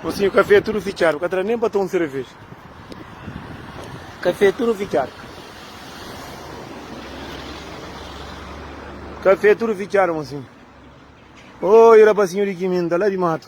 Mosinhu kafé tudu fitxadu ka tra nen pa ta un sereveja kafé tudu fitxadu kafé tudu fitxadu mosinhu oi rapasinhu di kiminda la di matu.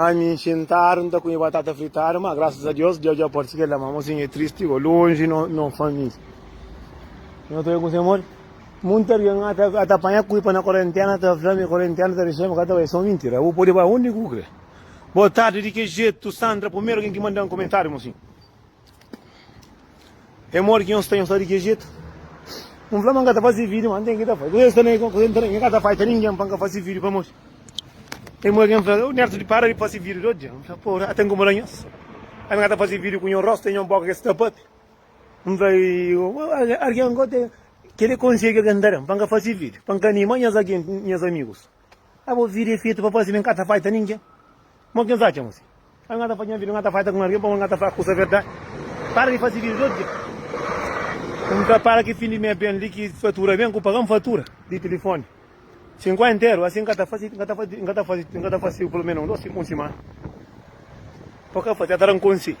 Ai mi xintadu nta kume batata fritadu ma graças a Deus Deus dja pode si keda ma mo sinha é tristi go longe no no família no ta kuse amor muito alguém a ta a ta panha cuipa na quarentena ta fla mi quarentena ta deixa mi cá ta vai só mentira vou pode vai onde que vou querer boa tarde de que jeito Sandra primeiro alguém que manda um comentário mocinho É modi ki nhos sta nhos sta di ki jetu? N fla ma N ka ta fase vídio ma N ten ki ta fai kuzê sta na kuzê nta na mi ka ta fai ta ningen pa N ka fase vídio pamodi é modi ki N fla ô Nerson di para di fase vídio di odja N fla pô ora ta inkomoda nhos ami ka ta fase vídio ku nho rostu e nho boka kes tapati N fla algen gosi kede konsegi algen ta da-m pa N ka fase vídio pa N ka anima nhas algen nhas amigus. A bo vida é fetu pa parse ma e ka ta faita ningen. Mo ki N atxa mos? N ka ta fadja nha vida, N ka ta faita ku algen pamodi N ka ta fla kusa verdadi. Para di fase vida di otu dja. N ta paga ki fin di mês ben li, ki fatura ben, ku paga-m fatura di tilifoni. Si N kuai nteru asin, N ka ta fase, N ka ta fase, N ka ta fase, N ka ta fase pelo menos un dos, un simana pa ka fase. N ta da-m konselhu.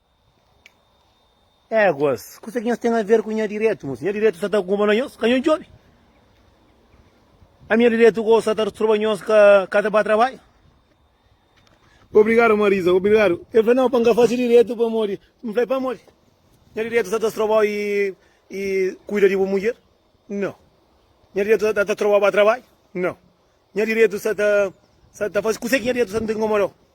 Éguas, kuzê ki nhos ten aver ku nha diretu? Mos nha diretu sa ta kunpra nhos, ka nhos djobe. Ami nha diretu gosi sa ta disturba nhos, ka ka ta ba trabadju. Obrigadu Marisa, obrigadu. El fla, Nau, pa N ka fase diretu pamodi. N fla, Pamodi? Nha diretu sa ta strobau i i kuida di bu mudjer? Nau. Nha diretu sa ta ta strobau ba trabadju? Nau. Nha diretu sa ta sa ta fase kuzê ki nha diretu sa ta inkomodau?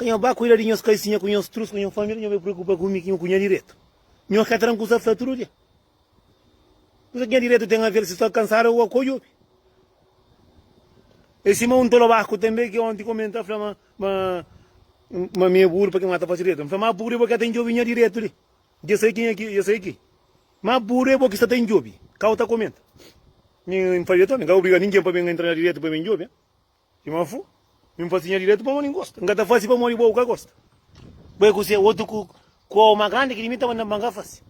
Ka nho ba kuida di nhos kaisinha ku nhos trus ku nho família, nho bai preokupa ku mi ki nho ku nha diretu. Nho ka tra-m kusa fla tudu dia. Kusa ki nha diretu ten aver si sta kansadu o akodju? E sima un tolo baku tanbe ki onti kome N ta fla ma ma mi e buru pa kima N ta fasi diretu. N fla ma buru e bo ki ka ta indjobi nha diretu li. Dja sai ki nha ki dja sai ki. Ma buru e bo ki sta ta indjobi. Kau ta komenta. Mi N fla dja tome, N ka obriga ningen pa ben entra na diretu pa ben indjobi. I ma fu, mi N fasi nha direitu pamodi N gosta. N ka ta fasi pamodi bo bu ka gosta. Bo é kusé? Otu ku kau más grandi ki di mi ta manda-m pa N ka fasi?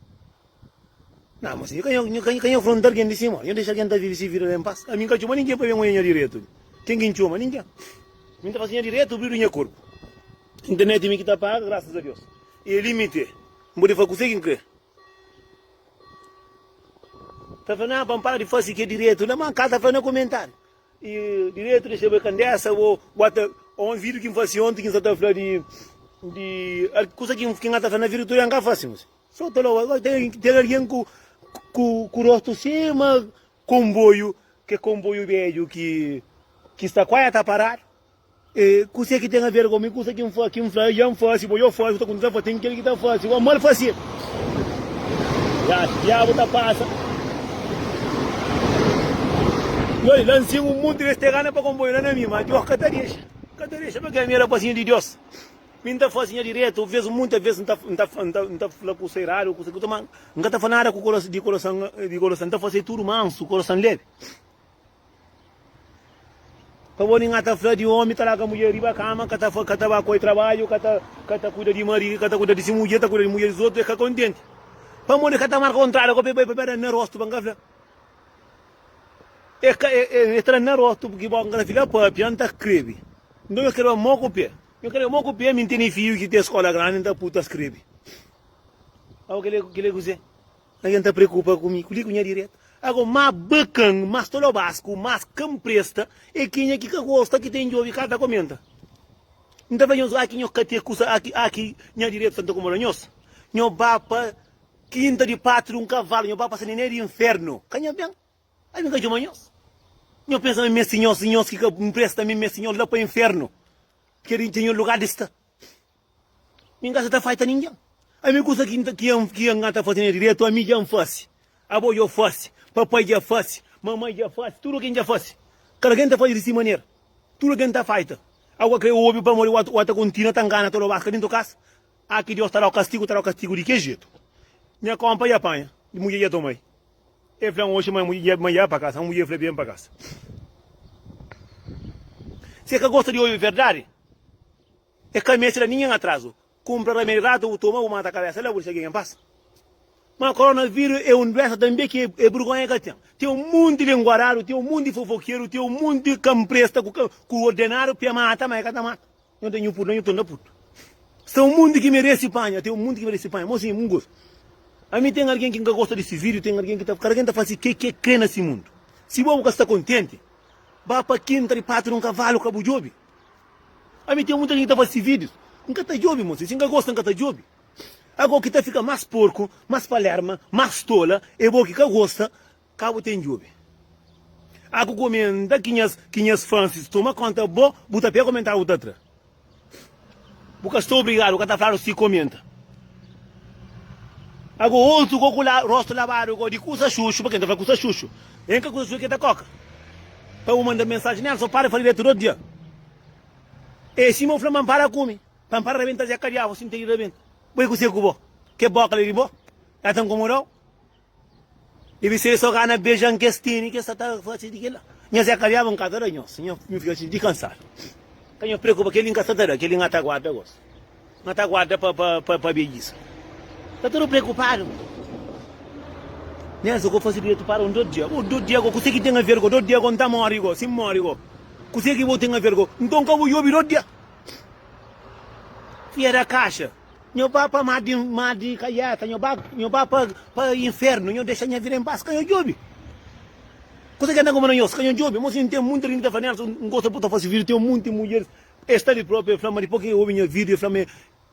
Na, ma si nhu ka nhu ka nhu afronta algen di sima, nhu dexa algen ta vive si vida la en pas. Ami N ka txoma ningen pa ben odja nha direitu li. Ken ki N txoma? Ningen. Mi N ta fasi nha direitu obridu nha korpu. N ten neti mi ki ta paga, grasas a Deus. I el imiti-e. N pode fla kusé ki N krê. Ta fla, Na, pa N para di fasi kel direitu la. Ma, ka ta fla na komentariu. E diretu di xebre kandesa bo bota o un vídeo ki n fase onti ki n sta ta fla di di kusa ki ki n ta fla na vida tude n ka fase mos so ta loba agora ten ten alguien ku ku ku rostu sima komboiu ke komboiu bedju ki ki sta kuazi a ta paradu E kuse ki ten a ver ku mi? Kusa ki N fla, ki N fla, el dja N faze, bo dja faze, bu ta kontinua faze. Ten kel ki ta faze o mal faze. Ya, diabu ta pasa. Yo li, la N sigu un monti di es terranu pa konboiu la na mi, ma Deus ka ta dexa. Ka ta dexa pakê? Mi e rapazinhu di Deus. Mi N ta faze nha diretu. Vez, monti vez, N ta, N ta, N ta, N ta fla kusa eradu, kusa ki ta, ma N ka ta fla nada ku koroson, di koroson, di koroson. N ta faze tudu mansu, koroson lebi. Pa bo ninga ta fla di omi ta laga mudjer riba kama, ka ta fa, ka ta ba koi trabadju, ka ta, ka ta kuida di mari, ka ta kuida di si mudjer, ta kuida di mudjer di zotu, e ka kontenti. Pa modi ka ta marka un trada ko pe bai pabia da na rostu pa n ka fla. E ka, e, e, e tra na rostu pki bo ka kla fila papia n ta skrebi. Nton yo skreba mo ku pe. Yo skreba mo ku pe, mi n tene fiju ki ten skola grandi, n ta pui ta skrebi. Abo kile, kile kuzê? Algen ta preokupa ku mi, kuli ku nha diretu? Ago ma bakan, ma stolobasku, ma ka N presta e kenha ki ka gosta ki ten djobi ka ta komenta? N ta fla nhos, aki nhos ka ten kusa, aki, aki nha diretu ta nkomoda nhos? Nhos ba pa kinta di patru un kavalu, nhos ba pa saniné di infernu, ka nhos ben? Ai mi ka djoma nhos? Nhos pensa ma N meste nhos, nhos ki ka N presta, mi meste nhos la pa infernu, ki é di dja nha lugar di sta? Mi nka sa ta faita ningen. Ami kusa ki nta ki N ki N nka ta fasi na diretu ami dja N fasi, abo djo fasi, papai dja fasi, mamai dja fasi, tudu ken dja fasi. Kada ken ta fasi di si manera. Tudu ken ta faita. Au ka krê obi pamodi wau wau ta kontinua ta ngana todo bas ka dintu kas. Ah ki Dios ta dau kastigu ta dau kastigu di ke jetu. Nha konpa dja panha, mudje dja tomai. E flan oxi ma mudje dja ma dja pa kasa, ma mudje fla ben pa kasa. Se ka gosta di obi verdadi. E ka meste da ningen atrazu. Kunpra ramedi ratu bu toma bu mata kabesa la bu disa gengen pasa. Ma koronaviru e un duesa tanbe ki e burgonha ka ten. Ten un monti di enguaradu, ten un monti di fofokeru, ten un monti di kampresta ku ordenadu pa e mata ma e ka ta mata. Nho ta nhu putu na nhu tonda putu. Sta un monti ki meresi panha, ten un monti ki meresi panha. Mo si un gosta. Ami ten algen ki n ka gosta di si vidiu, ten algen ki ta, kada ken ta fasi ke ke kre na si mundu. Si bo bu ka sta kontenti, ba pa kinta di patu di un kavalu ka bu jubi. Ami ten muita jinti ki ta fase videos N ka ta djobi mo si si N ka gosta N ka ta djobi Ago ki ta fika mas porku mas palerma mas tola e bo ki ka gosta ka bu ten djobi Ago komenta ki nhas ki nhas fansis toma konta bo bu ta pega komentar bu ta tra bu ka sta obrigadu ka ta fladu si komenta Ago otu go ku la rostu labadu go di kusa xuxu pa ken ta fla kusa xuxu N ka kusa xuxu ke ta koka. Pa bu manda mensaji nel so para fla diretu dos dia e sima u fla ma para kumi pa para rabenta zé kadiavu si ntei rabenta bo e kuse ku bo ke boka li di bo ya ta nkomodau dibi ser so gana bejan kes teni ke sa ta fasi di kila nha zé kadiavu nka ta da nhos nha mi fika xinti kansadu ka nha preokupa keli nka sa ta da keli nga ta guarda gosi. Nho ta guarda pa pabejis. Ta tudu preokupadu. Nhas go fazi dretu para un dot dia. Go dot dia go kuse ki ten aver go dot dia go nta mori go si mori go kuse ki bo ten aver go nton ka bo yobi dot dia. Fia da kaxa nho ba pa mar di mar di kaiata nho ba nho ba pa pa infernu nho dexa nha vida em pas ka nho djobi kuse ki nta nkomoda nhos ka nho djobi mo si nten munti ri nta fla nhas nho gosta bo ta fazi vida ten munti mudjeris El sta li propi, el fla ma dipos ki el obi nha video, el fla ma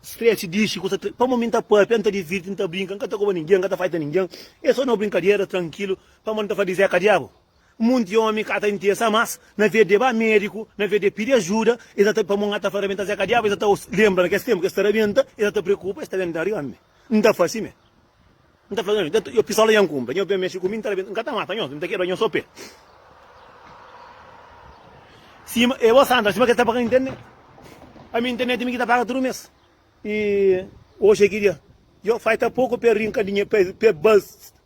Stretch dixi kusa triste, pamodi mi n ta papia, n ta divirti, n ta brinka, n ka ta koba ningen, n ka ta faita ningen, é so na brinkadera, trankilu, pamodi n ta fla di Zeka Diabu. Munti omi ka ta interesa mas na ve de ba mediku, na ve de pidi ajuda, es sa ta pamodi n ka ta fla rabenta Zeka Diabu, es sa ta lenbra na kes tenpu ki es ta rabenta, es sa ta preokupa, es ta ben da riba mi, n ta fasi me. N ta fla nhos, Dja ta, pistola dja N kunpra, nhos ben mexe ku mi, N ta rabenta, N ka ta mata nhos, N ta kebra nhos sô pé. Sima e bos andra, sima kes ta paga internet. Ami internet mi ki ta paga tudu mes. E oxi ki dia, djo, falta poku pa e rinka dinheru, pa e, pa e ba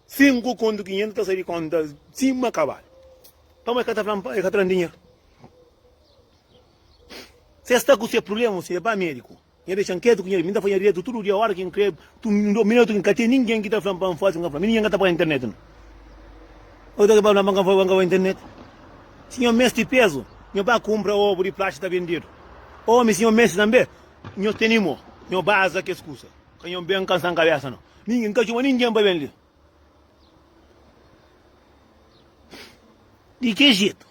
sinku kontu ki nhos ta sai di konta sima kabalu. Pamodi e ka ta fla-m pa e ka tra-m dinheru? Si e sta ku se prubléma, si e ba médiku. Nha dexa-m ketu ku nha redi, mi ta fadja dretu tudu dia ora ki N krê. Tu mi da un minotu ki N ka ten ningen ki ta fla-m pa N faze, N ka fla-m. Mi ningen ka ta paga internet no. Oca ki ta kaba, N fla-m pa N ka bai internet. Si nhos meste pezu, nhos bai kunpra obu di plaxi ta bendedu. Omi, si nhos meste tanbe, nhos tene mo. Nhos bai aza kes kusa. Ka nhos ben kansa-m kabesa no. Ningen, N ka txoma ningen pa ben li. Di ki jetu?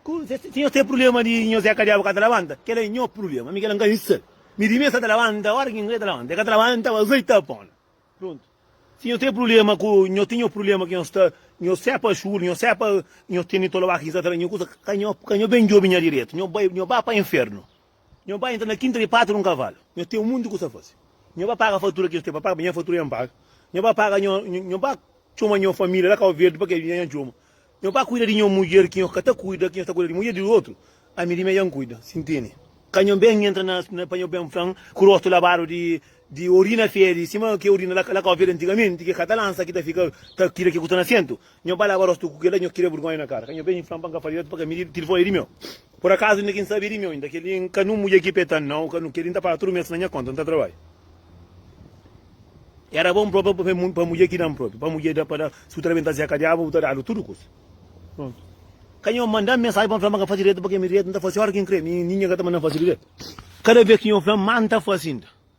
Ku nhos, si nhos ten prubléma di nhos é kadiaba ka ta labanta, kel-la é nho prubléma, mi kel-la N ka insta-l. Mi di mi, el sta ta labanta óra ki N krê ta labanta, el ka ta labanta, ntaba azei ta pô-l. Prontu. Si nhos ten prubléma ku, nhos ten nho prubléma ki nhos sta, nhos é pa xuru, nhos é pa nhos ten di tolobá ki ki sta ta fla nho kusa, ka nho, ka nho ben djobe nha diretu, nho bai, nho ba pa infernu. Nho bai intra na kinta di patu di un kavalu. Nho ten munti kusa pa fasi. Nho bai paga fatura ki es ten pa paga, ma nha fatura nha N paga. Nho bai paga nho, nho bai txoma nho familia la Kau Verdi pa ke nha N txoma. Nho bai kuida di nho mudjer ki nho ka ta kuida, ki nho sta kuida di mudjer di otru, ami di mi nha N kuida. Si ntende? Ka nho ben intra na, na pa nho ben flan ku rostu labadu di, di orina fedi, sima ke orina la, la Kau Verdi antigamenti, ke ka ta lansa ki ta fika ta tira ki ku sta na sentu. Nho ba laba rostu ku kela nho kria burgonha na kara ka nho ben inflam pa n ka fala diretu pa ka miri tilfon eri meu por akazu inda ki n sabi eri meu inda keli n ka nu mudja ki pe ta nau ka nu keri n ta paga tudu mes na nha konta n ta trabadja era bon propi pa mi pa mudja ki da-m propi pa mudja da pa da si bu ta da ben ta zeka diabu bu ta dadu tudu kusa prontu ka nho manda mensagem pa n fla ma ka fasi diretu pa ke mi diretu n ta fasi ora ki n kre mi ninha ka ta manda-m fasi diretu kada vez ki nho fla ma n ta fasi inda.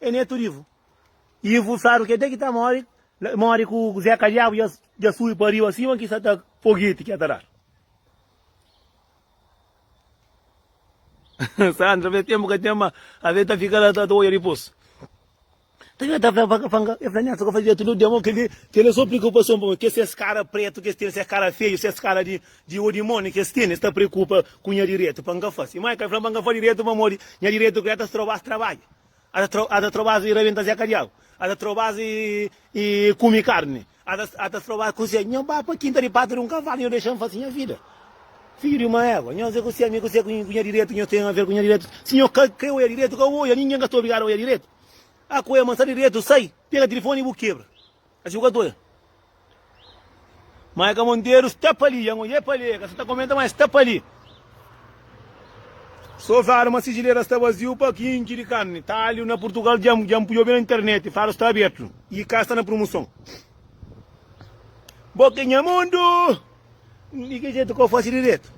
E neto rivu. Ivu saru ke te ki ta mori mori ku zeka diabu ja ja subi pa riba sima ki sa ta fogueti ke ta dar. Sandra fla e tempu ka ten ma ave e ta fika la ta ta oia dipus. Nta ke ta fla pa pa e fla neto ka fasi diretu no dia mo keli keli e so preokupason pa mi ke ses kara pretu kes tene ses kara feju ses kara di di o dimoni kes tene sta preokupa ku nha diretu pa nka fasi mai ka fla pa nka fasi diretu pamodi nha diretu ku ja ta stroba as trabadju. Ata ta trobas i rabenta Zé Kadiagu? Ata trobas i kume karni? Ata trobas kuzê? Nho ba pa kinta di pata di un kavalu, nho dexa-m fase nha vida. Fidju di uma égua, nho ze kuzê? Mi kuzê ku nha direitu? Nho ten aver ku nha direitu? Si nho ka krê oja direitu, ka oja. Ningen ka sta obrigadu a oja direitu. Akoê, ma n sta di direitu, sai, pega tilifoni i bu kebra. A si bu ka ta oia Maika Monteiro sta pa li, Yangon e Pale ka sa ta komenta ma es sta pa li. So fala ma sijileira sta vaziu pa kinki di karni, talhu na Purtugal dja dja N pui obi na internet fala sta abertu i ka sta na prumuson. Bo ke nha mundu! Di ki jetu ka o fasi diretu?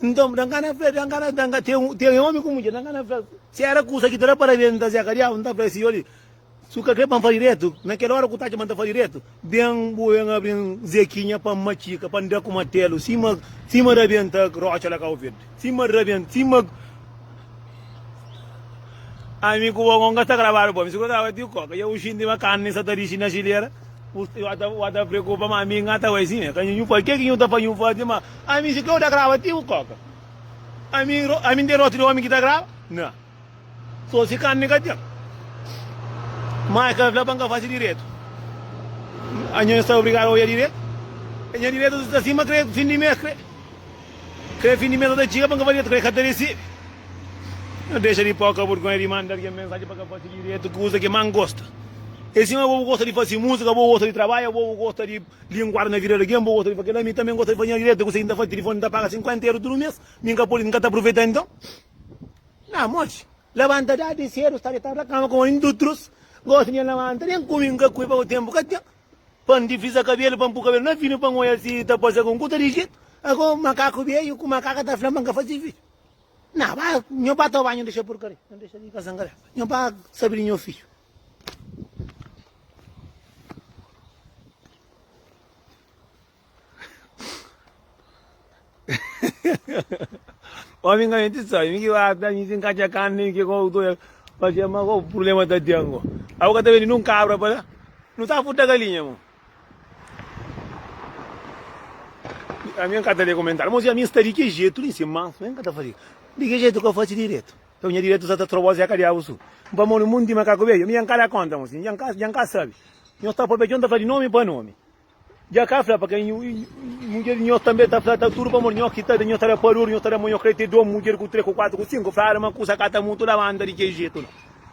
Nton da N ka na fla, da N ka na, da N ka, ten, ten omi ku mudjer, da N ka na fla, si era kusa ki ta da parabens nta zeka diabu, N ta fla e si yo li. Si bu ka kre pa N fla diretu, na kel ora ku bu ta atxa ma N ta fla diretu, ben bu ben abri N zekinha pa N matxika, pa N da ku matelu, sima sima rabenta rotxa la Kau Verdi, sima rabenta, sima. Ami ku bo nunka sta grabadu bo, mi si ku ta bati koka, dja bu xinti ma karni sa ta dixi na xilera, bu sta ta bu ta preokupa ma ami nka ta bai si me, ka nhu fla ke ki nhu ta fla nhu fla ti ma ami si kreu ta graba ti bu koka, ami ami N ten rotxu di omi ki ta graba? Na. So si kanni ka ten. Ma e ka fla pa N ka fasi diretu. Anho N sta obrigadu oja diretu. E nha diretu sta sima kre fin di mes kre. Kre fin di mes sa ta txiga pa N ka fasi diretu kre ka ta risibi. N dexa di poka burgonha di manda algen mensaji pa ka fasi diretu kuza ki más N gosta. E sima bo bu gosta di fasi musika, bo gosta di trabadja, bo bu gosta di linguadu na vida di algen, bo gosta di fla kel-la, mi tanbe N gosta di fasi nha diretu. Kuzê ki N ta fasi? Tilifoni ta paga 50 eru tudu mes, mi N ka pode, N ka ta apruveta inton? Na mochi, labanta dadi sedu, sta detadu na kama kuma indu utrus. Gosi dja labanta, den kumi, n'ka kui, pabia tempu ka ten. Pa n'difrisa kabelu, pa n'pu kabelu na finu, pa n'oja si ta pase algun kusa di jetu. Ago makaku bia i ku makaka ta fla-m pa n'ka fasi fidju. Na, ba nho ba ta banhu, dexa purkaria, nho dexa di kasa n'ka leba. Nho ba sabi di nho fidju. Omi nga menti sa, mi ki ba ta mi sin ka txia kan nem ki ko to ya pa txia ma ko problema ta tengo. Abo ka ta vendi nun kabra pa la. Nu ta furta galinha mo. A mi ka ta le comentário, mas a mi sta de que jeito nem se manso, nem ka ta fazer. De que jeito que eu faço direito? Então minha direito sa ta trobo se ka de abo su. Pa mo no mundo de macaco bem, mi ya ka da conta mo, si ya ka sabe. Nho sta pa bem, nho ta fala de nome pa nome. Dja ka fla pa kel nhu mudjer di nho tanbe ta fla ta tudu pamodi nho ki ta da nho ta da pador nho ta da ma nho krê te dom mudjer ku tre ku kuatu ku sinku fla ala ma kusa ka ta mutu la banda di kel jetu la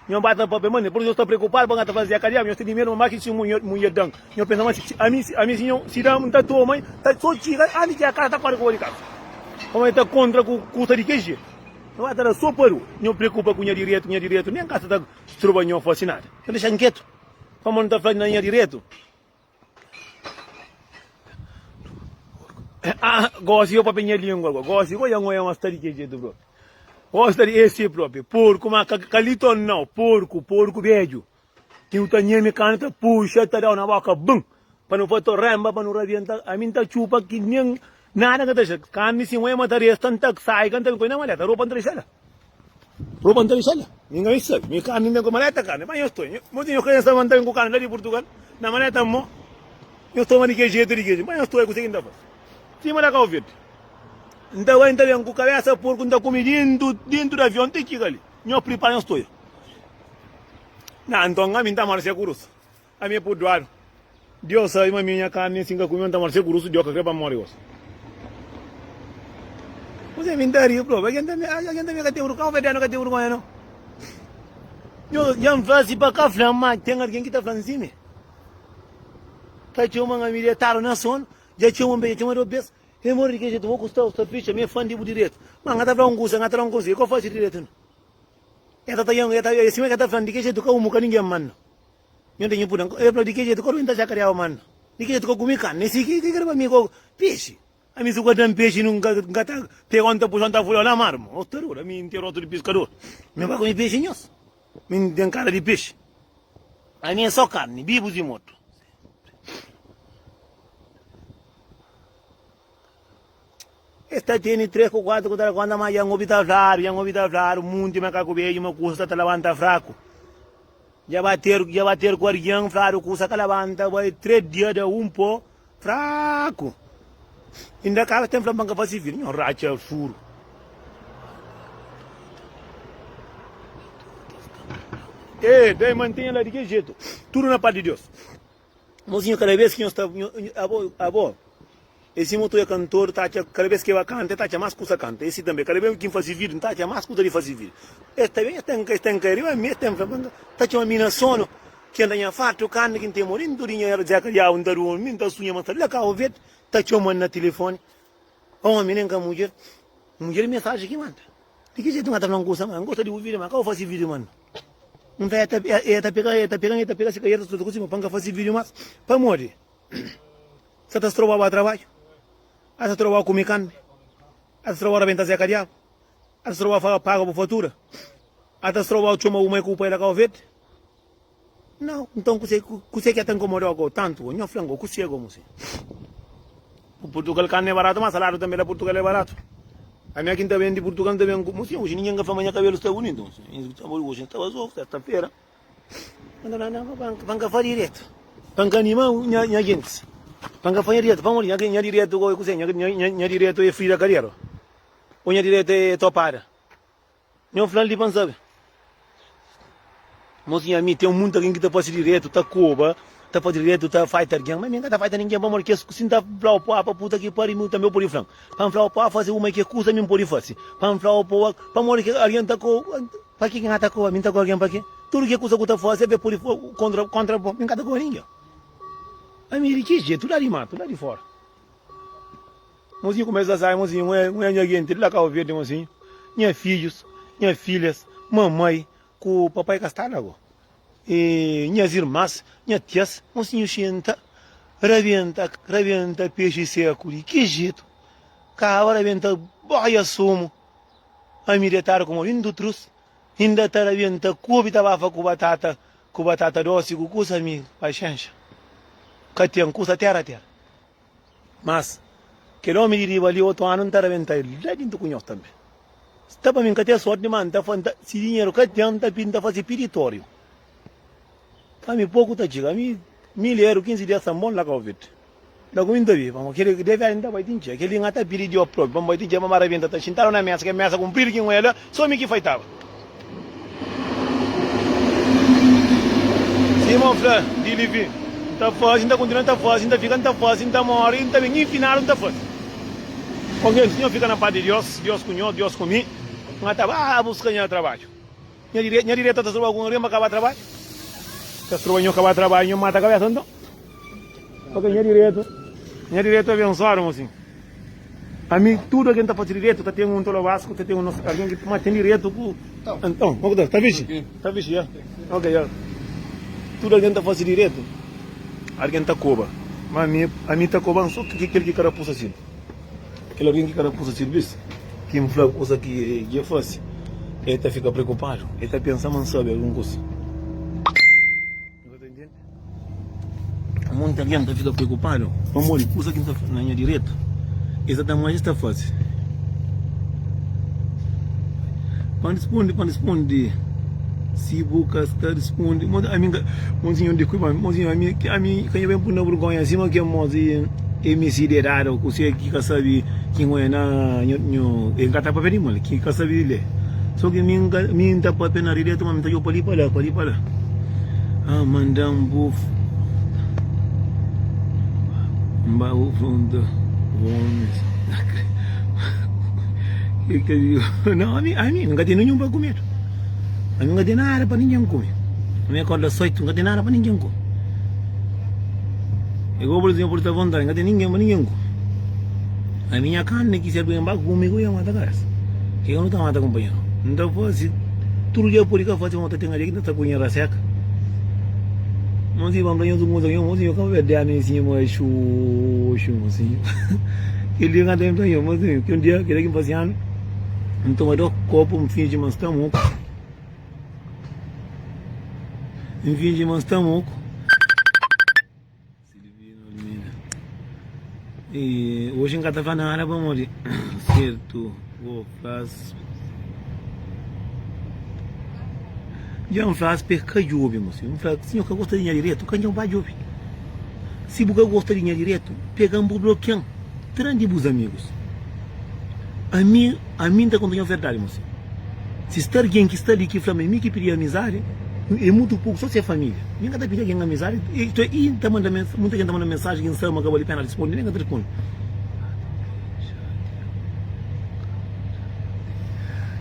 nho ba ta papia ma nel pur nho sta preokupadu pa nka ta fazia ka diabu nho tene medu ma ma ki si nhu mudjer dan nho pensa ma si ami si ami si nho si da nta toma ta so txiga antis ki akasa ta kore kore kasa pamodi ta kontra ku kusa di kel jetu nho ba ta da so pador nho preokupa ku nha diretu ku nha diretu nen kasa ta stroba nho fasi nada ta dexa-m ketu pamodi nta fla na nha diretu. Ah, gosi yo papia nha língua agora. Gosi, goja ngoja uma stari que jeito, bro. Uma stari esse próprio. Porco, mas calito não. Porco, porco beijo. Que o tanha me canta, puxa, tá dando na boca, bum. Para não fazer remba, para não rabientar. A mim tá chupa que nem Nada ka ta dexá Kanmi si N-oé matá-l Ê-s ta n-ta k-sai ka n-ta ben ku-é na maleta Ropa n-ta dexá-l-la Ropa n-ta dexá-l la Mi ngai n-sta sabe Mi Kanmi n-ten ku-é maleta Kanmi Má nhos txon Nhos tinha krénsa ma n-ta ben ku Kanmi la di Purtugal Na maleta Mo nhos toma di ke jetu di ke jetu Má nhos txon Kuzê ki n-ta faze Sima da Kau Verdi N-ta bai n-ta ben ku kabésa porku N-ta kume dentu dentu di avion Ti ki ka li Nhos pripara nhos txon Nah Nton ami n-ta marse ku Rusa. Ami é purduadu. Diós sabe ma mi é nha karni, asin ka ku mi N ta mori. Se ku rusu Diós ka kre pa N mori gosi. Kuzê mi N ta ri? Prove, algen ta mi algen ta mi ka ten vrgonha? Un federal ka ten vrgonha no. Nhos dja N fla si pa ka fla ma ten algen ki ta fla si mi ta txoman ami detadu na sonu. Dja txoman be, dja txoman dos bes. E modi di ke jetu? Bo ku sta sta picha mi é fan di bu diretu. Ma N ka ta fla un kusa, N ka ta fla un kusa. Ke ki N fasi di diretu no? E ta ta yam e ta e sima ke ta fla di ke jetu ka umu ka ningen manno. Nhu ta nhu pudi anka. El fla, Di ki jetu ka rui N ta jakariaba manna? Di ki jetu ka kumi karni? Esi ki ki da pa mi gogo? Pexi? Ami si ku el da-m pexi, nu ka N ka ta pega-u, N ta puxa-u, N ta fula-u la mar? Ma otu ora, ami N ten rostu di piskadur. Mi N ba kumi pexi nhos. Mi N ten kara di pexi. Ami é so karni, bibus i mortu. Es ta tene três ku kuatu ku ta da kónta ma Jangobi ta fladu, Jangobi ta fladu, munti makaku bedju ma kusa ta ta labanta fraku. Dja ba teru, dja ba teru ku argen fladu kusa ka labanta bai três dia da un po fraku. Inda ka ten fla ma ka fase fil, nho ratxa suru. E, dai mantenha la di ki jetu, tudu na pá di Deus. Mozinho kada bes ki nhos ta abo e si mutu e kantor ta atxa kada bes ki e ba kanta e ta atxa mas kusa kanta e si tanbe kada bes ki nfasi video nta atxa mas kusa di fasi video e ta ben e ta nka e ta nka e riba mi e ta nfla pa nka ta txoma mi na sonu ken ta nha fatu kanta ki nta mori ntu di nha era dzeka diabu nta durmi nta sunha ma sta la kabo verde ta txoma na tilifoni Ka omi nen ka mudjer. Mudjer mensaji ki manda. Di ki jetu n'ga ta fla un kusa ma N gosta di bu video ma ka bu fasi video mas N ta e ta pega e ta pega e ta pega si ka eta tudu ku sima pa N ka fasi video mas pamodi N sa ta stroba ba trabadju a ta stroba kumi kanbi a ta stroba rabenta zeka diabu a ta stroba paga bu fatura a ta stroba txoma bu mai ku bu pai la ka bu fedi. Nau, nton kuse kuse ki a ta nkomoda-u gó tantu? Nho fla-m gó, kuse gó muse? Ku Purtugal karni é baratu, má saladu tanbe la Purtugal é baratu. Ami aki N ta ben di Purtugal, N ta ben ku muse, oji ningen ka fla ma nha kabelu sta bunitu muse. N ta fla, oji N staba azogu, serta-fera, N ta fla, nau, pa N ka faze diretu, pa N ka anima nha nha gentis, pa N ka faze diretu, pamodi nha nha diretu gó é kuse? Nha nha nha diretu é Frida Kaliero? Ô nha diretu é Topada? Nho fla-l di ban sabe. Mos nha mi ten munt algen ki ta fase diretu, ta koba, ta fase diretu, ta faita algen. Ma mi n ka ta faita ningen pamodi kes ku si n ta fla-u pa pa puta ki pariu mi tanbe u pode fla-m. Pa n fla-u pa fase uma ke kusa mi n pode fase. Pa n fla-u pa oa pamodi ke algen ta ko. Pa ki ki n ka ta koba? Mi n ta koba algen pa ke? Tudu ke kusa ku ta fase be pode fla kontra kontra bo. Mi n ka ta koba ningen. Ami di ki jetu? La di matu, la di fora. Mozinhu kumesa sai, mozinhu, un é nha genti di la Kabu Verdi, mozinhu, nha fidjus, nha fidjas, mamai ku papai ka sta la go, y nhas irmas, nha tias, mozinhu xenta, rabenta, rabenta pexi seku, di ki jetu, kaba rabenta boia sumu, ami detadu kuma bin dutrus, inda ta rabenta kubi ta bafa ku batata, ku batata dosi ku kusa mi, paxenxa, ka ten kusa tera tera. Mas, kel ómi di riba li, otu anu, N ta rabenta el la di N ta kunhó-s tanbê. Sta pa mi, N ka ten sórti dimás, N ta fla, N ta, si dinheru ka ten, N ta pidi, N ta faze piditóriu pa mi, poku ta txiga mi, mil eru, kinzi dias ta bon, la ka obi-l. La ku mi N ta obi-l, pamodi kel-li, de verdadi, N ta bai ti N txiga, kel-li N ka ta pidi di Jó própi, pamodi N bai ti Jó, ma ma rabenta ta xintadu na mésa, kel mésa kunpridu ki N oja la, Sô mi ki faitaba. Sima N fla di li vin. N ta faze, N ta kontinua ta faze, N ta fika, N ta faze, N ta móre, N ta ben, infinal N ta faze. Kontenti nhos fika na pá di Diós, Diós ku nhos, Diós ku mi. N ka ta ba buska nha trabadju. Nha direta ta stroba ku un riba kaba trabadju. Ta stroba nhos kaba trabadju, nhos mata kabésa nton. Ok, nha diretu. Nha diretu abensoadu mo sin. Ami tudu algen ta fasi diretu, ta ten un tolobasko, ta ten un nosso algen ki ma ten diretu ku Anton. Ok, ta ta fixi? Ta fixi, ya. Ok, ya. Tudu algen ta fasi diretu, algen ta koba. Ma ami, ami ta koban so ki kel ki ka rapusa sin. Kel algen ki ka rapusa sirvis, ki N fla kusa ki dja fasi, el ta fika preokupadu, el ta pensa ma N sabe algun kusa. Monti algen ta fika preokupadu pamodi kuza ki N ta faze na nha direita e sa ta ama es ta faze. Pa N responde, pa N responde, si bu ka sta responde, monti ami, monti siñor, deskulpa-m, monti siñor, ami, ami ka nha ben pui na burgonha sima ki amosi. Msd é dada o kuse ki ka sabe ki nho é na nho e nka ta papia di mal ki ka sabe lé so ki mi nka mi nta papia na rede tuma mi ta djobe pa li pa la pa li pa la ah manda bu nba bu fronta omis nau ami ami nka tene nhon pa kume ami nka ten nada pa ningen kume ami akorda 8 nka ten nada pa ningen kume. É igual bôs di nha pode ta vontade Ka ten ningen pa ningen ku Ami nha karni ki serbi Ba kumigu nha mata karesa Ke ka nu ta mata kunpanheru N ta fase tudu dja pode ka fase Mota ten aria ki n ta ta kunha ra seka Mon si ba fla nhos un kuza Nhos mon si nhos ka ba bês dea mi si Mô xu xu mon si Kel dia kantu ami fla nhos mon si Kel dia keda ki N fase anu N toma dos kopu N finji ma N sta muku N fingi ma N sta moku E oji N ka ta fla nada pamodi Sertu Bo flas Dja N flas pa e ka djobe Mo sinhor N fla si nho ka gosta di nha diretu Ka njo ba djobe Si bu ka gosta di nha diretu Pega-m bu blokia-m Tra-m di bus amigus. Ami, ami N ta konta-u nha verdadi, mo si Si sta argen ki sta li ki fla-m é mi ki pidi amizadi, é mutu poku, sô si é família. Mi N ka ta pidi algen amizadi, isto é, i N ta manda mens, munta algen ta manda mensaji ki N sabe ma ka bali pena rispondi, mi N ka ta rispondi.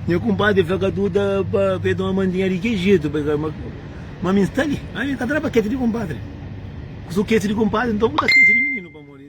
Nha kunpadri fla ka tu ta ba pa e toma mandinha di ki jetu, ma mi N sta li, ami N ka ta da pa keti di kunpadri. Ku su keti di kunpadri, nton ku ta keti di mininu, pamodi.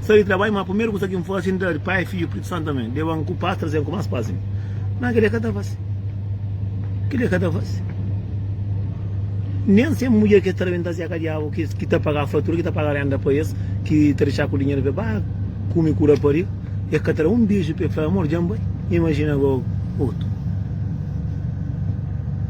Sai di trabadju, ma primeru kusa ki N fasi, N da di Pai, Fidju, Spritu Santu. Amen. Leba-m ku pas, traze-m ku más pas. Amen. Má kel-li é ka ta fase. Kel-li é ka ta fase. Nen se mudjer ki es ta rabenta se é ka Diabu ki ta paga fatura, ki ta paga rénda pa es, ki ta dexa ku dinheru pa es ba kume ku rapariga. Es ka ta da un beju pa el fla, Amor, dja N bai. Imajina gosi otu.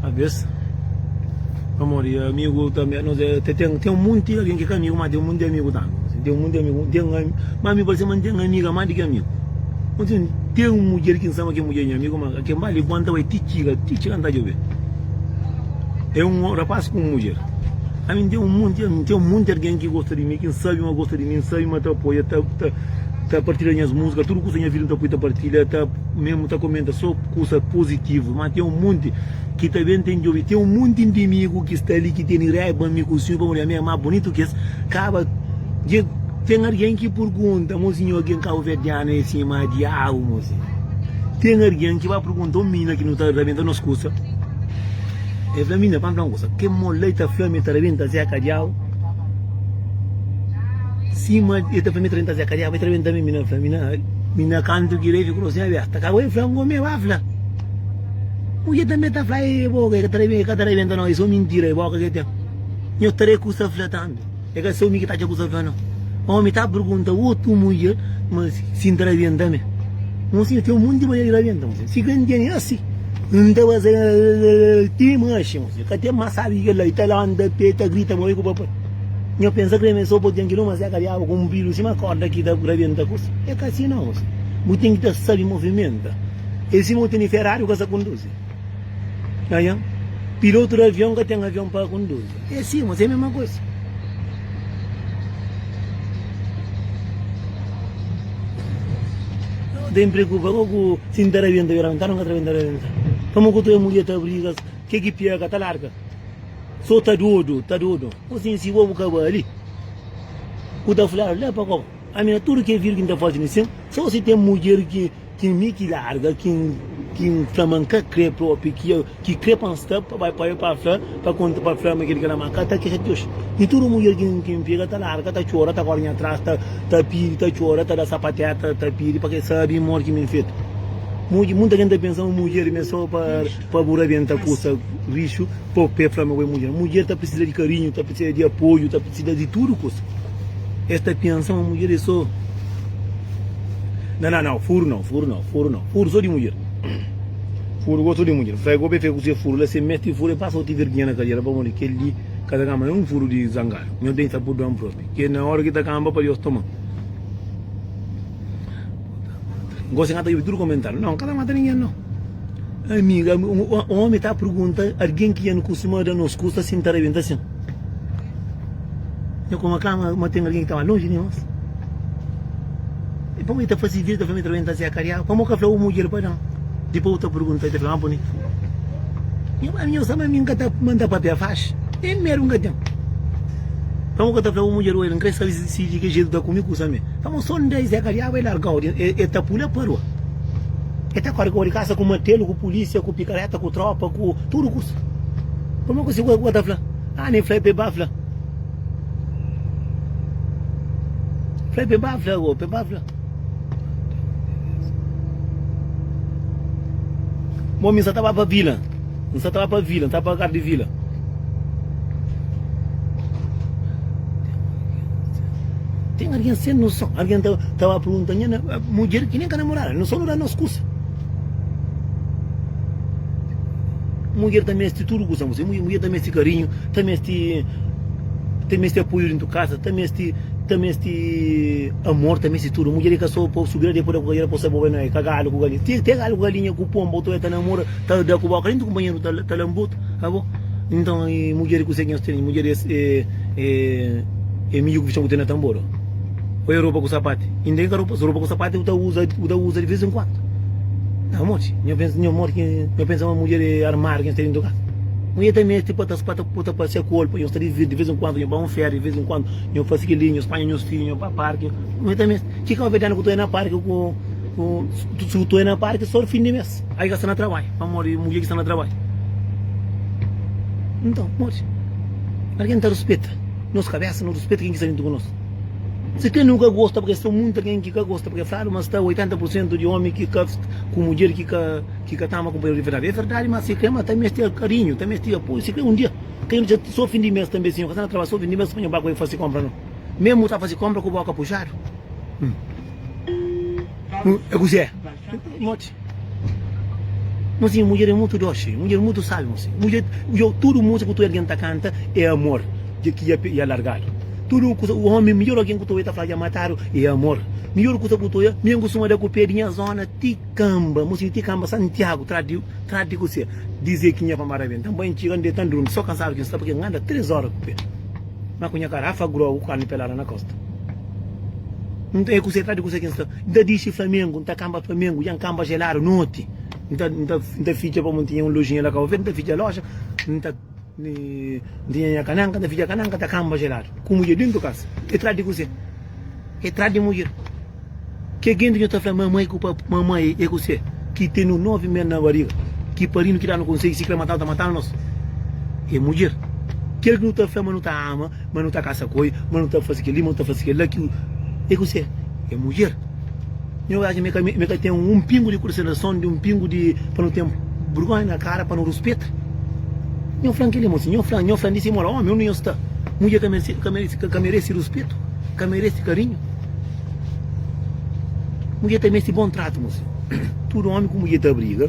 Talvez Amor e amigo tanbe nos é Ten, ten, ten monti algen ki é ka amigu Má ten monti amigu tanbe N ten monti amigu N ten ami Má mi parse ma N ten amiga más di ki amigu Osi N ten un mudjer ki N sa ma kel mudjer é nha amigu Má kel bali bo N ta bai ti txiga Ti txiga N ta djobe É un rapás ku un mudjer Ami N ten monti ami N ten monti algen ki gosta di mi Ki N sabe ma gosta di mi N sabe ma ta apoia Ta, ta, ta partilha nhas múzika Tudu kusa nha vida N ta poi ta partilha Ta. Mesmo ta comenta so kusa positivo ma ten um monte ki ta ben ten djobe ten um monte indimigo ki sta li ki teni raiba mi ku sinhor pamodi ami é ma bonito ki es kaba dje ten argen ki purgunta mo sinhor argen kabuverdiano é sima diabu mo sinhor ten argen ki ba purgunta um minina ki nu ta rabenta nos kusa el fla minina pa n fla um kusa ke mo lei ta fla mi ta rabenta zé ka diabu sima el ta fla mi ta rabenta zé ka diabu el ta rabenta mi minina fla minina. Mi na kantu ki rei fiku no sebe ta ka bai fla un omi e ba fla mudjer tambe ta fla e boka e ka ta rebenta no e so mintira e boka ke ten nho ta rekusa fla tambe e ka seu mi ki ta atxa kusa fla no omi ta pergunta otu mudjer ma si nta rebenta me mo si ten monti manera di rebenta mo si ka nteni asi nta baza ti maxi mo si ka ten ma sabi kela i ta lanta pe ta grita ma bai ku papai. Nho pensa krê mê sopa oten ki nu masiá kadiaba ku un bilu sima korda ki ta rabenta ku si. É ka si nau si. Bu ten ki ta sabi movimenta. É sima bu tene Ferrari bu ka sa konduzi. Nha. Pilotu di avion ka ten avion pa konduzi. É si ma si é mema kusa. Nu ten preokupa ko ku si nta rabenta, yo rabenta nu ka ta rabenta, yo rabenta. Pamo ku tu é mulié ta briga ke ki piaka ta larga. So ta dodu, ta dodu. Kos é si? Bo bu ka bali? Ku ta fla-l, la pa kau. Ami na tudu ke vidu ki N ta fasi na sen, so si ten mudjer ki ki mi ki larga, ki N ki N fla ma N ka kre propi, ki el ki kre pa N sta, pa bai pa el pa fla, pa konta, pa fla ma kel ki la ma ka ta kre ti oji. Di tudu mudjer ki N ki N pega, ta larga, ta txora, ta kóre nha tras, ta ta pidi, ta txora, ta da sapateta, ta pidi pa ke sabi modi ki mi N fetu. Mudj, munta ken ta pensa ma mudjer mi é so pa. Pa bu rabenta kusa rixu pa bu pé fla ma bu é mudjer. Mudjer ta pirsida di karinhu, ta pirsida di apoiu, ta pirsida di tudu kusa. Es ta pensa ma mudjer é so. Na na nau, furu nau, furu nau, furu nau. Furu so di mudjer. Furu gosi so di mudjer. Fla e gobe fe kuse furu la, se mesti furu e pasa oti verginha na kadera pamodi kel li ka ta kanba na un furu di zangadu. Nho ben sa purduan propi. Ke na ora ki ta kanba pa Deus toma. Gosi ngata obi tudu komentariu. Nau, nkata mata ningen nau. Ami, un omi ta pergunta algin ki N kustuma da nos kusa si N ta rebenta sin. Nha kuma ka maten algin ki ta ba lonji di nos. Pamodi i ta fasi vista pa mi ta rebenta si akariau? Pamodi bu ka fla bu mudjer pa da-m? Dipus bu ta pergunta i ta fla ma bonitu. Nha mame, nhos ama mi? N ka ta manda papia faxi? Nen medu N ka ten. Pamodi bu ka ta fla bu mudjer, Oel, N krê sabe si di ki jetu bu ta kume kusa mi? Ka bu son da izé ka diabu é largau di é ta pula parua é ta kori kau di kasa ku matelu ku pulisia ku pikareta ku tropa ku tudu kusa pa mi kusi ku ka ta fla ah nen fla pe ba fla fla pe ba fla pe ba fla bo mi sa ta ba pa vila. N sa ta ba pa vila, N ta ba pa kar di vila. Ten argen sen noson, argen ta ba pergunta nha mudjer ki nen ka namorada, noson nu da nos kusa. Mudjer ta meste tudu kusa, amor, mudjer ta meste karinhu, ta meste ta meste apoiu dentu kasa, ta meste ta meste amor, ta meste tudu. Mudjer e ka so pa subida depois da ku kariera pa sa bo bai na kagadu ku galinha, ti até gadu ku galinha ku pomba otu bai ta namora. Ta da ku boka li nta kunpanheru ta lanbut a bo Nton e mudjer ku se ki nhos tene mudjer es e e e miu ku ki txon ten na tanbor o e ropa ku sapati inda e ka ropa so ropa ku sapati u ta uza u ta uza di vez en kuandu na moti nho pensa nho moti nho pensa ma mudjer e armariu ki nhos tene nta kasa u e ta mesti pa ta ta pasia ku ol pa nhos ta di vidi di vez en kuandu nho ba un férias di vez en kuandu nho fasi kili nhos panha nhos fidju nho ba parki u e ta mesti ki ka ovedeanu ku ta e na parki ku ku su ta e na parki so fin di mes Ai ka sta na trabalhu pamodi mudjer ki sta na trabalhu nton pamodi algen ta ruspeta nos kabesa no ruspeta ken ki sta juntu ku nos si ken nu ka gosta pake sta munta ken ki ka gosta pake fladu ma sta 80 pur sentu di omi ki ka ku mudjer ki ka ki ka ta ama kunpanheru di verdadi e verdadi ma si ken ma ta mesti karinhu ta mesti apoiu si ken un dia ken nu txeu so fin di mes tanbe si nho ka sta na trabalhu so fin di mes pa nho ba ku el fasi konpra no memu ta fasi konpra ku boka puxadu e kusi e. Note, Mas nha mulher é mutu doce, mulher mutu sal Mas mulher, yo tudu musika ku tudu algen ta kanta é amor Dja ki ya ya largadu Tudu kusa, omi midjor algen ku tudu ya ta fla dja matadu é amor Midjor kusa ku tudu ya, mi N kustuma da ku pé di nha zona ti kamba Mas di ti kamba, Santiago, tra di, tra di kuse Dizê ki nha famada ben, tanbá N txiga N deta N durmi, so kansadu ki N sta, pa ke N anda três óra ku pé. Ma ku nha karafa grou ku karni pelada na kosta N ta e kuse tra di kuse ki N sta N ta dixi flamengu N ta kanba flamengu Dja N kanba jeladu noti N ta N ta N ta fitxa pamodi N tinha un lojinha la kau verde N ta fitxa loja N ta N tinha nha kananka N ta fitxa kananka ta kanba jeladu ku mudjer dentu kasa e tra di kuse e tra di mudjer Ke genti ki nu ta fla mamai ku papai, mamai e ku se, ki tenu novi mes na bariga, ki parinu ki danu konsei si kre matanu ta matanu nos, e mudjer. Kel ki nu ta fla ma nu ta ama, ma nu ta kasa ku el, ma nu ta fasi keli, ma nu ta fasi kela ki e ku se, e mudjer. Mi obi aji mi ka ten un pingu di konsiderason di un pingu di pa nu ten burgonha na kara pa nu ruspeta. Nho flan keli mo si nho flan, nho flan di simola omi undi nho sta, mudjer ka mersi ka meresi ka meresi ruspetu, ka meresi karinhu. Mudjer ta meste bon tratu mo sen Tudu omi ku mudjer ta briga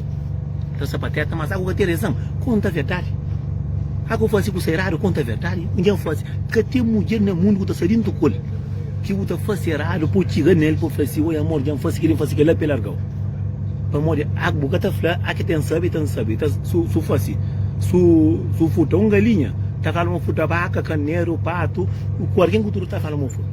Ta sapateta mas aku ka ten rezan Konta verdadi Aku fase kusa eradu Konta verdadi Un dia N fase Ka ten mudjer na mundu ku ta sta dentu ku el Ki bu ta fase eradu Po txiga nel po fla si Oi amor dja N fase kel-li N fase kel-la pa el larga-u Pamodi aku bu ka ta fla Aki ten sabe ten sabe ta Su su fase Su su furta un galinha Ta fla ma furta baka kaneru patu Ku algen ku tudu ta fla ma furta.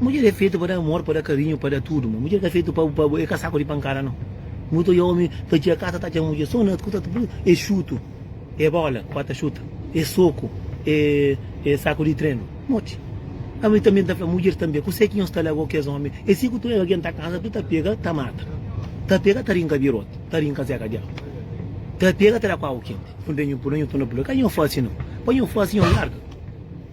Mudjer é fetu pa da amor, pa da karinhu, pa da tudu, ma mudjer ka fetu pa pa bu, e ka saku di pankada no. Nu ta odja omi ta txia kasa ta atxa mudjer so na kuta ta pui e xutu, e bola pa ta xuta, e soku, e e saku di trenu. Moti. Ami tanbe n ta fla mudjer tanbe kuse ki nhos ta lago kes omi e si ku tu algen ta kansa tu ta pega ta mata, ta pega ta rinka birote, ta rinka zeka diabu, ta pega ta da ku agu kenti, nu ta nhu pula nhu tuna pula ka nhu fasi no, pa nhu fasi nhu larga.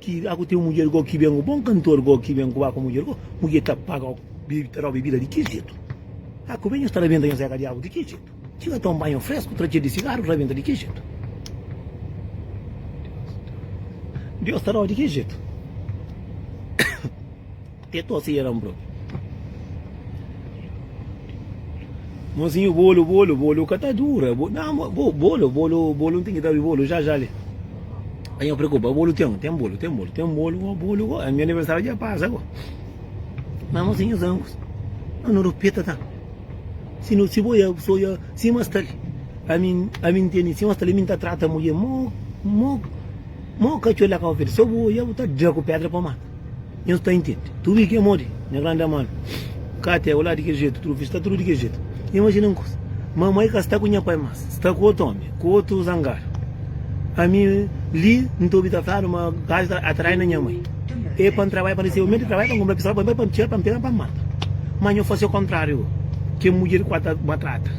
ki a ku ten mudjer go ki ben ku bon kantor go ki ben ku ba ku mudjer go mudjer ta paga o bebe ta da o bebida di ki jetu a ku ben nhos ta rabenta nhos eka diabu di ki jetu ki ka ta un banho fresku tra txer di sigaru ta rabenta di ki jetu Deus ta da o di ki jetu Ke to se eran bro. Mozinho bolo bolo bolo ka ta dura bo na ma bo bolo bolo bolo n'ten ki ta bi bolo já já li pa nha preocupa bolo ten ten bolo ten bolo ten bolo bo bolo bo nha aniversário dja pasa bo ma mozinho zan ku no no rupeta ta si no si bo ya so ya si ma sta li ami ami n'teni si ma sta li ami ta trata mulher mo mo mo kacole la ka ofende so bo ya bo ta dra ku pedra pa mata Nhos ta intende? Tudu i ki amodi, nha grandi amadu. Ka te ola di kel jetu, tudu ki sta, tudu di kel jetu. Nha imajina un kuza, ma amai ka sta ku nha pai mas, sta ku otu omi, ku otu zangadu. Ami li N ta obi tratadu ma gaji ta atrai na nha mai. E pa N trabadja pa N resebe, mi ta trabadja pa N kunpra pistola pa mi pai, pa N tira, pa N pega, pa N mata. Ma nho fasi okontrariu, kel mudjer ku a ta matrata.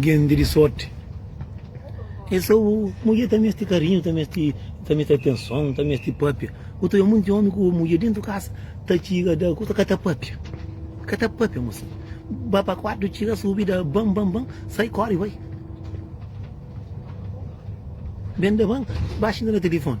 Gende di sorti. É só bu. Mulher ta meste carinho, ta meste, ta meste atenção, ta meste papia. O teu mundo de homem com mulher dentro de casa, ta tira da coisa, cata papia. Cata papia, moça. Ba para quarto, tira, subir, da bam, bam, bam, sai, corre, vai. Bem da banca, baixa no telefone.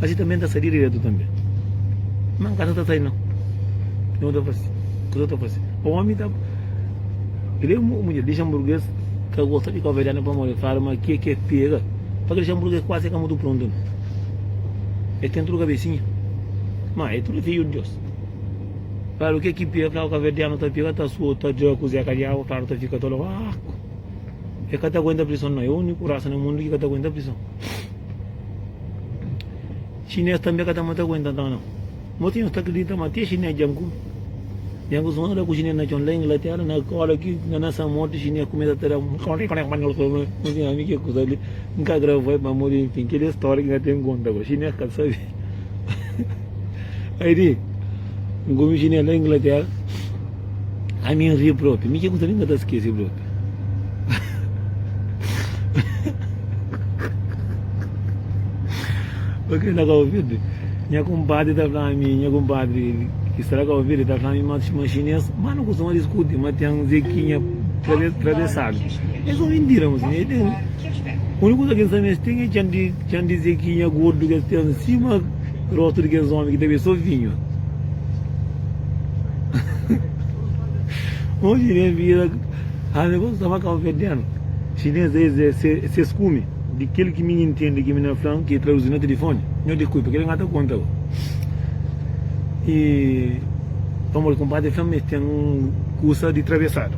Asi tanbe N ta sai diretu tanbe. Má N ka ta ta sai nau. Kuzê ki N ta fase? Kuzê ki N ta fase? O ómi ta. Kel-li é un mudjer lixanburguês ka gosta di káuverdianu pamodi el fla-l ma ki é ki el pega. Pa kel lixanburguês kuazi é ka mutu prontu nau. El ten tudu kabesinha. Má é tudu fidju di Deus. Fla-l o ki é ki pega. El fla-l káuverdianu ta pega, ta sua, ta dja kuzê ka djaba. Fla-l el ta fika ta lóba. Aaku! El ka ta aguenta prison nau. É úniku rasa na mundu ki ka ta aguenta prison. Chinês tanbê ka ta mata ku inta nton nau. Moti nhos ta kridita ma até chinês dja nku. Dja nku suma da ku chinês na txon la Inglaterra, na kola ki na na sa morti chinês kumesa ta da un Moti ami ke kusa li nka gravai pamodi nfin kel é stória ki nka ten konta bo. Chinês ka ta sabe. Aí di, un gomi chinês na Inglaterra, a mim ri propi, mi que nem tá esqueci propi. Porque na Cabo Verde, minha compadre tá falando a mim, minha compadre que está na Cabo Verde, tá falando a mim, mas chinês, mas não costuma discutir, mas tem um zequinha atravessado. É só mentira, moço. Úniku kuza ki N sabe ma es ten é txan di zekinha gordu ki es ten sima róstu di kes ómi ki ta bebe sô vinhu. Un xinês bira ha mi, Gosi staba kau fedenu? Xinês dja es é ses kume. Di kel ki mi ntende ki mi na fla-m, ki traduzi na tilifóni, Nho di kuipa, kel ki N ka ta konta bo. I pamodi kunpadri fla-m ma es ten un kusa di trabesadu.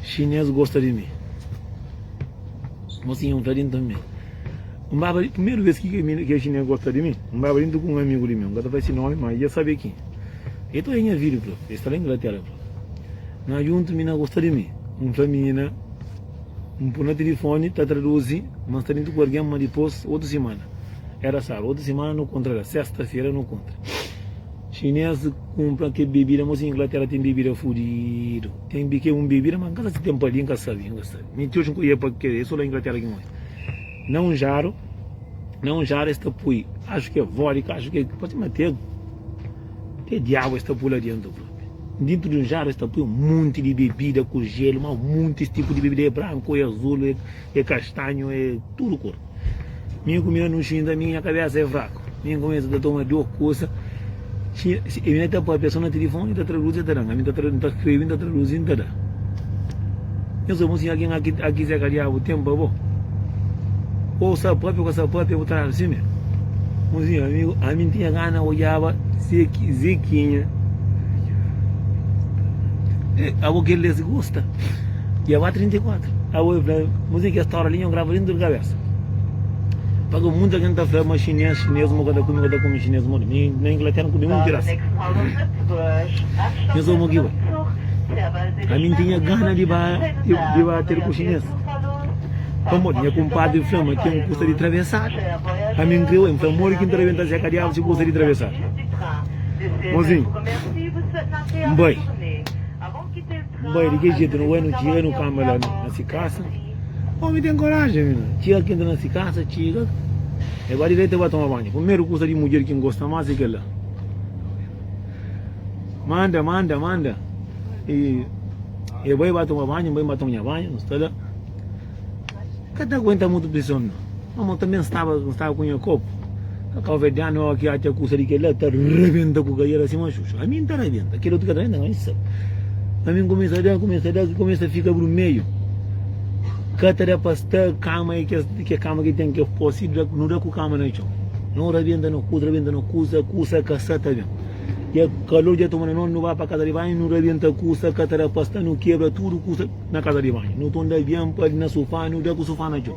Xinês gosta di mi. Mosinha un ta di nta mi. N baba di primeru bes ki kel xinês gosta di mi. N baba di nta ku un amigu di mi. N ka ta fla si nomi, ma i dja sabe ki. El ta oja nha vídiu, fla. El sta la Inglatera, el fla. Na djuntu mi na gosta di mi. N fla mina. N pô na tilifoni, ta traduzi, ma N sta djuntu ku algen. Ma dipôs, otu simana. Éra sábadu. Otu simana nu kontra la. Sésta-fera nu kontra. Xinês kunpra kel bebida mô si inglatéra ten bebida fudidu ten di ke un bebida ma nka sa si ten pa li nka sabe nka sabe mi ti oji nka odja pa kel e so la inglatéra ki nka odja na un jaru na un jaru es ta poi axu ke vodka axu ke parse ma te te diabu es ta poi la dentu propi dentu di un jaru es ta poi un monti di bebida ku jelu ma monti es tipu di bebida e branku e azul e É kastanhu é tudu kur Mi ku mi na nu xinta Mi nha kabesa é fraku Mi ku mi ta toma djo kusa Xi xi Mi na ta papia so na tilifoni N ta traduzi e ta da-m Ami ta tra N ta skrebi N ta traduzi N ta da Nhos obi un sinhal ki naki a ki seka diabu ten pa bo Ou sa papia ou ka sa papia bu ta da-m si me Un sinhal amigu Ami N tinha gana odjaba Zeki Zekinha Abo kel-li es gosta. E aba 34. Awa eu fla, mas e ki esta hora li nho grava dentro de cabeça. Pa que muita gente ta fla, mas chinês, chinês, mo ka ta come, ka ta come chinês, mo na, na Inglaterra não come um que raça. Nho só mo ki ba. A mim tinha gana de ba, de ba ter com chinês. Pamodi nha kumpadri fla ma ten kusa di travesadu. A mim kre oi, fla modi ki nta ta ben ta seka diabu si kusa di travesadu. Mozinho, nbai. Bai di ke jetu no bai no txiga no kama la na si kasa omi ten koraji mi na txiga ki nta na si kasa txiga e bai diretu e bai toma banju primeru kusa di mudjer ki ngosta mas e kel la manda manda manda e bai bai toma banju bai bai toma nha banju no sta la Ka ta aguenta mutu prison no. Mama u tanben staba un staba ku nha kopu ka kau vedianu eu ki atxa kusa di kela ta rebenta ku kaiera sima xuxu ami nta rebenta kel otu ka ta rebenta ma issa ami nkumesa da nkumesa da ki kumesa fika brumeiu ka ta da pa sta kama e kes ke kama ki ten ke posi da no da ku kama na txon no rebenta no kusa rebenta no kusa kusa ka sa ta ben ja kalor ja toma na no no ba pa kasa di banhu no rebenta kusa ka ta da pa sta no kebra tudu kusa na kaza di banhu nu tunda abian pa na sufá nu da ku sufá na txon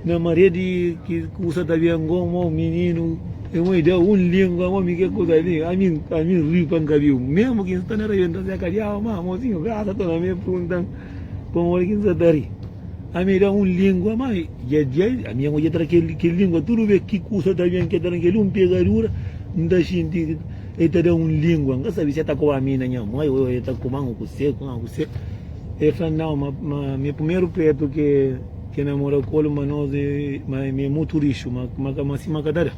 na maria di ki kusa ta ben ngo mo mininu e mo da un lingua mo mi ke kusa li a mi a mi ri pa n kabiu mesmu ki n sta na ravental se kadiaba ma mosinhu grasa ta na mi e prunta-m pamodi ki n sa ta ri a mi da un lingua ma dja dja a mi ngo dja tra kel kel lingua tudu bes ki kusa ta ben ke tra kel un pegadura n ta xinti El ta da un língua, N ka sabe si el ta koba mi na nha mó ô el ta koba-m ku kusé, ku nha kusé El fla-m, Nau, ma, ma mi primeru pretu ke, ke namora ku el ma nos é, ma mi é mutu rixu ma, ma ka, ma si ma ka ta da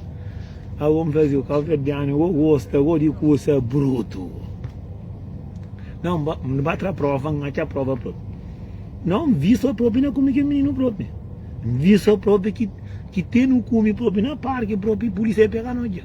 Agu N fla-s, Yu, kabuverdianu go gosta go di kusa brutu Nau, N ba, N ba tra prova, N atxa prova propi Nau, N vistu el propi na kume kel mininu propi N vistu el propi ki, ki ten nu kume propi na parki propi Pulísia pega nos dja.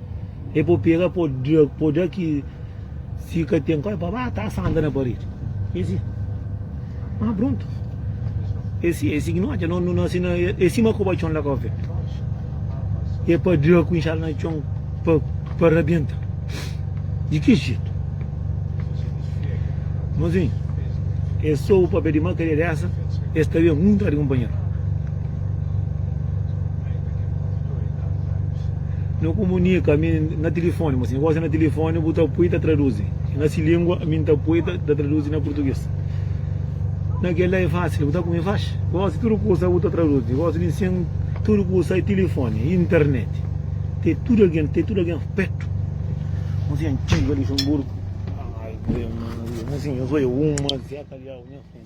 E po pega po dra po dra ki si ka ten koi pa ba ta sanda na paredi e si ma prontu e si e si ki no odja no no sina e sima ku ba txon la ka ofe e pa dra ku inxada na txon pa pa rabienta di ki jetu mozinhu e sobu papia di makaria dessa e sta ben un tra di kunpanheru No komunika ami na tilifoni, ma si no gosi na tilifoni bu ta pui ta traduzi. E na si lingua ami ta pui ta, ta traduzi na purtuges. Na kel la e fasil, bu ta kumi faxi. Gosi tudu kusa bu ta traduzi. Gosi mi sin tudu kusa e tilifoni, internet. Te tudu algen, te tudu algen petu. Mozinha antiga Luxemburgo. Ai, Maria, Maria, mozinha, zoia uma, zeta, liau, nha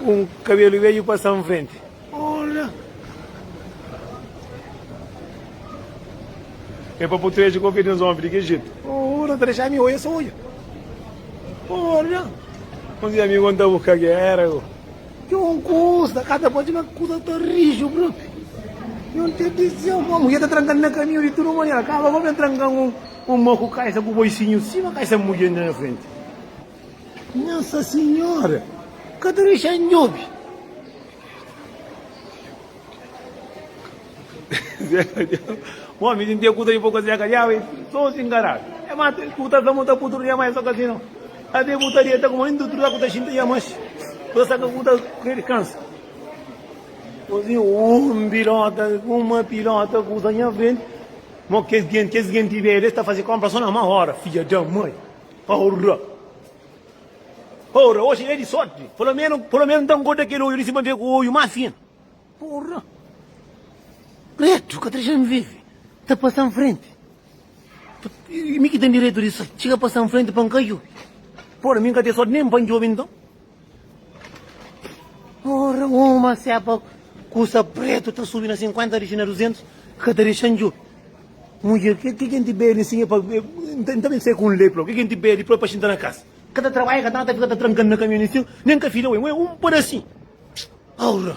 Un kabelu bedju pasa N frenti. É pa bu tra el dja konfia di nos ómi di kel jetu. Oh, nu ta dexa ami oja so oja. Olha, um dia amigo anda buscar que era eu. Que um custa, cada pode na custa tá rijo, bro. Eu te disse, uma mulher tá trancando na caminho de tudo maneira, acaba vou me trancar um um moco caixa com o boicinho cima, caixa mulher na frente. Nossa Senhora! Ka ta dexa N djobe! Zeca Diau. Bom, me senti acuta de pouco Zeca Diau, e só se engarar. É mais, escuta a monta por tudo, mais só que assim não. A de putaria, tá como indo, tudo acuta xinta, já mais. Só saca acuta, que cansa. Assim, um pilota, uma pilota, acuta, já vem. Mas que gente, que gente velha, está fazendo compra só na uma hora, filha da mãe. Ora! Ora! Oxi é di sorti! Polo menu, polo menu, nta N goda kel oiu li si pa N fika ku oiu más fin. Ora! Retu, ka ta dexa-m vive. Ta pasa nfrenti. Mi ki ten direitu di sa txiga pasa nfrenti pa N ka djobe. Ora! Mi N ka ten sorti nen pa N djobe nton. Ora uma sepa kusa pretu ta subi na 50 dixi na 200 ka ta dixan djo mudjer ke ke kenti beli nsin epa nta ben sai ku un lepra ke kenti beli pa xinta na kas ka ta trabalha ka nada fika ta trankan na kamion nsin nen ka fila wen wen un padasin aura.